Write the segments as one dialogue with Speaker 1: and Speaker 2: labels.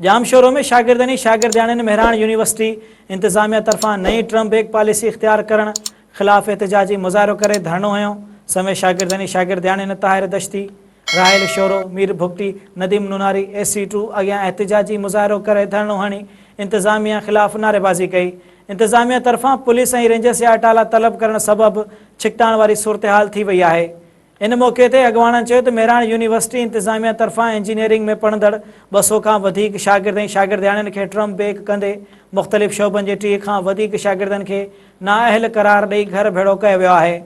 Speaker 1: ڄامشورو ۾ شاگردن ۽ شاگردياڻين مهراڻ يونيورسٽي انتظاميه طرفان نئين ٽرم بيگ پاليسي اختيار ڪرڻ خلاف احتجاجي مظاهرو ڪري ڌرڻو هنيو سمي شاگردن ۽ شاگردياڻين Tahir Dashti, Raheel Shoro, Mir Bugti, Nadeem Nonari A C two اڳيان احتجاجي مظاهرو ڪري ڌرڻو هڻي انتظاميه خلاف نعريبازي ڪئي انتظاميه طرفان پوليس ۽ رينجرس جا اٽالا طلب ڪرڻ سبب ڇڪتاڻ واري صورتحال ٿي وئي آهي ان موقعي تي اڳواڻن چيو ته مهراڻ يونيورسٽي انتظاميه طرفان انجنيئرنگ ۾ پڙهندڙ ٻه سؤ کان وڌيڪ شاگرد ۽ شاگردياڻين کي ٽرم بيڪ ڪندي مختلف شعبن جي ٽيهه کان وڌيڪ شاگردن کي نااهل قرار ڏئي گهر ڀيڙو ڪيو ويو آهي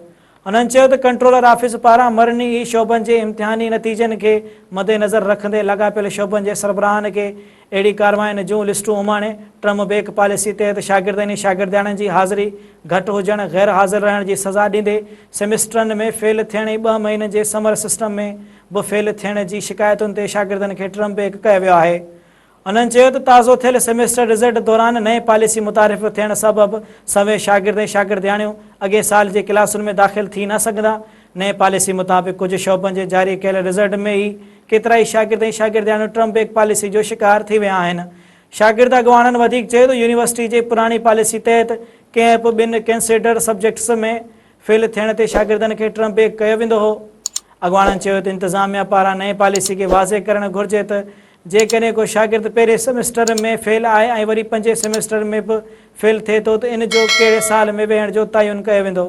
Speaker 1: انهن چيو ته ڪنٽرولر آفيس پاران مرڻي ئي شعبن جي امتحاني نتيجن کي مدنظر رکندي لاڳاپيل شعبن جي سربراهن کي اهڙي ڪاررواين جون لسٽون اماڻي، ٽرم بيڪ پاليسي تحت شاگردن ۽ شاگردياڻين جي حاضري گهٽ هجڻ، غير حاضر رهڻ جي سزا ڏيندي سيمسٽرن ۾ فيل ٿيڻ ۽ ٻه مهينن جي سمر سسٽم ۾ به فيل ٿيڻ جي شڪايتن تي شاگردن کي ٽرم بيڪ ڪيو ويو آهي. انهن چيو ته تازو ٿيل سيمسٽر رزلٽ دوران نئين پاليسي متعارف ٿيڻ سبب سوين شاگرد ۽ شاگردياڻيون اڳئين سال جي ڪلاسن ۾ داخل ٿي نه سگهندا، نئين پاليسي مطابق ڪجهه شعبن جي جاري ڪيل رزلٽ ۾ ئي ڪيترائي شاگرد ۽ شاگردياڻيون ٽرمپ بيڪ پاليسي جو شڪار ٿي ويا آهن. شاگرد اڳواڻن وڌيڪ چيو ته يونيورسٽي جي پراڻي پاليسي تحت ڪنهن به ٻن ڪنسيڊرڊ سبجيڪٽس ۾ فيل ٿيڻ تي شاگردن کي ٽرمپ بيڪ ڪيو ويندو هو. اڳواڻن چيو ته انتظاميا پاران نئين پاليسي کي واضح ڪرڻ گهرجي ته جيڪڏهن ڪو شاگرد پهرين سيمسٽر ۾ فيل آهي ۽ وري پنجين سيمسٽر ۾ به فيل ٿئي ٿو ته ان جو ڪهڙي سال ۾ ويهڻ جو تعين ڪيو ويندو.